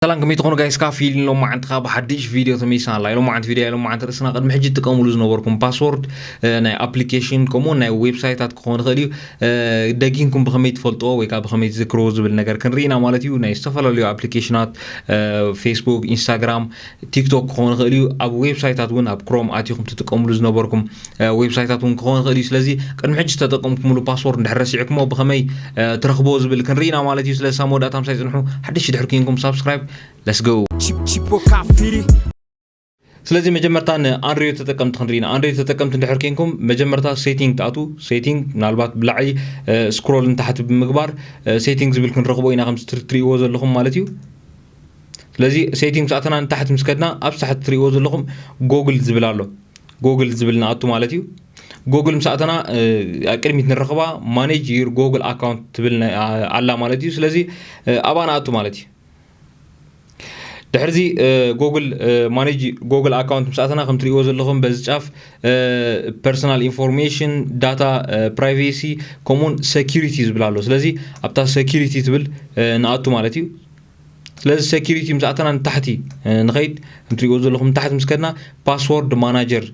ሰላም ከመይ ትኾኑ ጋይስ ካብ ፊልም ሎም መዓንቲ ካብ ሓድሽ ቪድዮ ተመይስና ኣላ ኢሎም መዓንቲ ቪድዮ ኢሎም መዓንቲ ርእስና ቅድሚ ሕጂ ትጥቀምሉ ዝነበርኩም ፓስወርድ ናይ ኣፕሊኬሽን ከምኡ ናይ ዌብሳይታት ክኸውን ይኽእል እዩ ደጊንኩም ብኸመይ ትፈልጥዎ ወይ ከዓ ብኸመይ ትዝክርዎ ዝብል ነገር ክንርኢና ማለት እዩ ናይ ዝተፈላለዩ ኣፕሊኬሽናት ፌስቡክ ኢንስታግራም ቲክቶክ ክኸውን ይኽእል እዩ ኣብ ዌብሳይታት እውን ኣብ ክሮም ኣትኹም ትጥቀምሉ ዝነበርኩም ዌብሳይታት እውን ክኸውን ይኽእል እዩ ስለዚ ቅድሚ ሕጂ ዝተጠቀምኩምሉ ፓስወርድ እንድሕር ረሲዕኩሞ ብኸመይ ትረኽቦ ዝብል ክንርኢ ኢና ማለት እዩ ስለዚ ሳብ መወዳእታ ምሳይ ፅንሑ ሓድሽ ድሕር ኩንኩም ሳብስክራይብ ለስገው ስለዚ መጀመርታ ንኣንድሮይድ ተጠቀምቲ ክንርኢ ኢና ኣንድሮይድ ተጠቀምቲ እንድሕር ኮንኩም መጀመርታ ሴቲንግ ትኣት ሴቲንግ ምናልባት ብላዕሊ ስክሮል ንታሕቲ ብምግባር ሴቲንግ ዝብል ክንረኽቦ ኢና ከምዚ ትሪእዎ ዘለኹም ማለት እዩ ስለዚ ሴቲንግስ ኣተና ንታሕቲ ምስ ከድና ኣብ ሳሕቲ ትርእይዎ ዘለኹም ጎግል ዝብል ኣሎ ጎግል ዝብል ንኣቱ ማለት እዩ ጎግል ምስ ኣተና ቅድሚት ንረኽባ ማኔጅ ዩር ጎግል ኣካውንት ትብል ኣላ ማለት እዩ ስለዚ ኣብኣ ንኣቱ ማለት እዩ ድሕርዚ ጎግል ማኔጅ ጎግል ኣካውንት ምስ ኣተና ከም ትርእይዎ ዘለኹም በዚ ጫፍ ፐርሶናል ኢንፎርሜሽን ዳታ ፕራይቬሲ ከምኡውን ሰኪሪቲ ዝብል ኣሎ ስለዚ ኣብታ ሰኪሪቲ ትብል ንኣቱ ማለት እዩ ስለዚ ሴኪሪቲ ምስ ኣተና ንታሕቲ ንኸይድ እንትሪእዎ ዘለኹም ንታሕቲ ምስ ከድና ፓስወርድ ማናጀር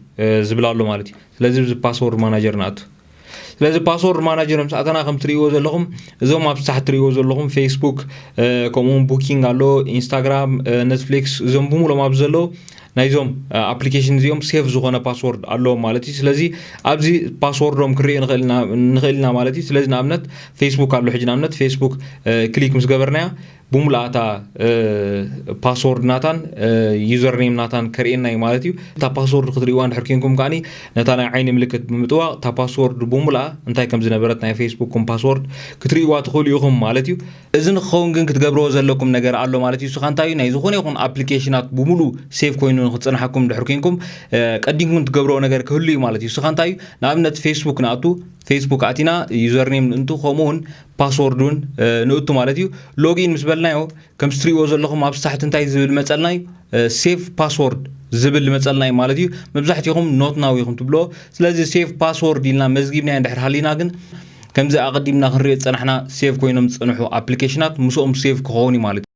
ዝብል ኣሎ ማለት እዩ ስለዚ እዚ ፓስወርድ ማናጀር ንኣቱ ስለዚ ፓስወርድ ማናጀር ምስ ኣተና ከም ትሪእዎ ዘለኹም እዞም ኣብ ሳሕ ትሪእዎ ዘለኹም ፌስቡክ ከምኡውን ቡኪንግ ኣሎ ኢንስታግራም ኔትፍሊክስ እዞም ብምሎም ኣብዚ ዘለዉ ናይዞም ኣፕሊኬሽን እዚኦም ሴፍ ዝኾነ ፓስወርድ ኣለዎም ማለት እዩ ስለዚ ኣብዚ ፓስወርዶም ክንሪኦ ንኽእል ኢና ማለት እዩ ስለዚ ንኣብነት ፌስቡክ ኣሎ ሕጂ ንኣብነት ፌስቡክ ክሊክ ምስ ገበርናያ ብሙሉኣ እታ ፓስወርድ ናታን ዩዘር ኔም ናታን ከርእየና እዩ ማለት እዩ እታ ፓስወርድ ክትርእዋ እንድሕር ኮንኩም ከዓኒ ነታ ናይ ዓይኒ ምልክት ብምጥዋቕ እታ ፓስወርድ ብሙሉኣ እንታይ ከም ዝነበረት ናይ ፌስቡክኩም ፓስወርድ ክትርእዋ ትኽእሉ ኢኹም ማለት እዩ እዚ ንክኸውን ግን ክትገብርዎ ዘለኩም ነገር ኣሎ ማለት እዩ ስኻ እንታይ እዩ ናይ ዝኾነ ይኹን ኣፕሊኬሽናት ብሙሉ ሴቭ ኮይኑ ንክፅናሓኩም ድሕር ኮንኩም ቀዲምኩም ትገብርዎ ነገር ክህሉ እዩ ማለት እዩ ስኻ እንታይ እዩ ንኣብነት ፌስቡክ ንኣቱ ፌስቡክ ኣቲና ዩዘርኔም ንእንቱ ከምኡ እውን ፓስወርድ እውን ንእቱ ማለት እዩ ሎጊን ምስ በልናዮ ከም ስትሪእዎ ዘለኹም ኣብ ሳሕቲ እንታይ ዝብል መፀልና እዩ ሴቭ ፓስወርድ ዝብል መፀልና እዩ ማለት እዩ መብዛሕትኹም ኖት ናው ኢኹም ትብልዎ ስለዚ ሴቭ ፓስወርድ ኢልና መዝጊብናዮ ድሕር ሃሊና ግን ከምዚ ኣቐዲምና ክንሪኦ ዝጸናሕና ሴቭ ኮይኖም ዝጸንሑ ኣፕሊኬሽናት ምስኦም ሴቭ ክኸውን እዩ ማለት እዩ።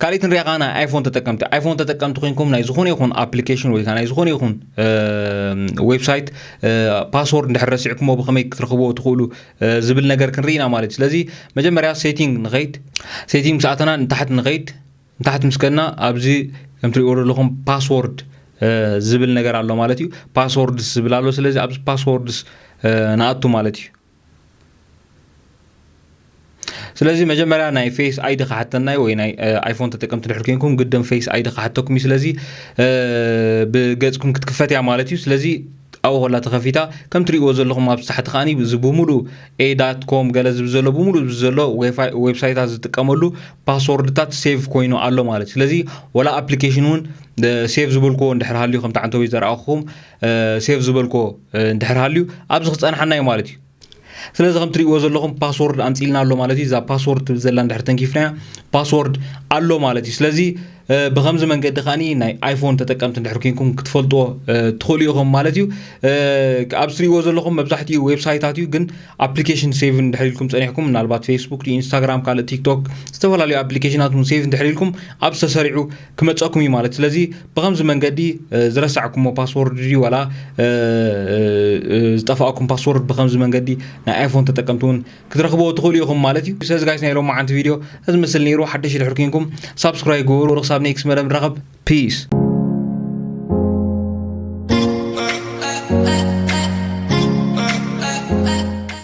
ካልኢት ንሪኣ ከዓ ናይ ኣይፎን ተጠቀምቲ ኣይፎን ተጠቀምቲ ኮንኩም ናይ ዝኾነ ይኹን ኣፕሊኬሽን ወይ ከዓ ናይ ዝኾነ ይኹን ዌብሳይት ፓስወርድ እንድሕር ረሲዕኩሞ ብኸመይ ክትረኽብዎ ትኽእሉ ዝብል ነገር ክንርኢና ማለት እዩ ስለዚ መጀመርያ ሴቲንግ ንኸይድ ሴቲንግ ምስ ኣተና ንታሕቲ ንኸይድ ንታሕቲ ምስ ከድና ኣብዚ ከም ትሪእዎ ዘለኹም ፓስዎርድ ዝብል ነገር ኣሎ ማለት እዩ ፓስዎርድስ ዝብል ኣሎ ስለዚ ኣብዚ ፓስዎርድስ ንኣቱ ማለት እዩ ስለዚ መጀመርያ ናይ ፌስ ኣይዲ ክሓተና እዩ ወይ ናይ ኣይፎን ተጠቀምቲ ድሕር ኮንኩም ግድም ፌስ ኣይዲ ክሓተኩም እዩ ስለዚ ብገፅኩም ክትክፈት እያ ማለት እዩ ስለዚ ኣብኡ ኮላ ተኸፊታ ከም ትሪእዎ ዘለኹም ኣብ ታሕቲ ከዓኒ እዚ ብምሉእ ኤ ዳት ኮም ገለ ዝብል ዘሎ ብምሉእ ዘሎ ዌብሳይታት ዝጥቀመሉ ፓስዎርድታት ሴቭ ኮይኑ ኣሎ ማለት ስለዚ ወላ ኣፕሊኬሽን እውን ሴቭ ዝበልክዎ እንድሕር ሃልዩ ከምቲ ዓንተቤት ዘረኣኹም ሴቭ ዝበልክዎ እንድሕር ሃልዩ ኣብዚ ክፀንሓና እዩ ማለት እዩ ስለዚ ከም ትሪእዎ ዘለኹም ፓስወርድ ኣምፂልና ኣሎ ማለት እዩ እዛ ፓስወርድ ትብል ዘላ እንድሕር ተንኪፍናያ ፓስወርድ ኣሎ ማለት እዩ ስለዚ ብከምዚ መንገዲ ከኣ ናይ ኣይፎን ተጠቀምቲ እንድሕር ኮንኩም ክትፈልጥዎ ትኽእሉ ኢኹም ማለት እዩ ኣብ ዝትሪእዎ ዘለኹም መብዛሕትኡ ዌብሳይታት እዩ ግን ኣፕሊኬሽን ሴቭ እንድሕር ኢልኩም ፀኒሕኩም ምናልባት ፌስቡክ ኢንስታግራም ካልእ ቲክቶክ ዝተፈላለዩ ኣፕሊኬሽናት እውን ሴቭ እንድሕር ኢልኩም ኣብ ዝተሰሪዑ ክመፀኩም እዩ ማለት ስለዚ ብከምዚ መንገዲ ዝረሳዕኩሞ ፓስወርድ ድዩ ዋላ ዝጠፋእኩም ፓስወርድ ብከምዚ መንገዲ ናይ ኣይፎን ተጠቀምቲ እውን ክትረኽብዎ ትኽእሉ ኢኹም ማለት እዩ ሰዚ ጋይስ ናይ ሎማዓንቲ ቪድዮ እዚ ምስል ነይሩ ሓደሽ ድሕር ኩንኩም ሳብስክራይብ ግበሩ ክሳብ ኔክስት መደብ ንራኸብ ፒስ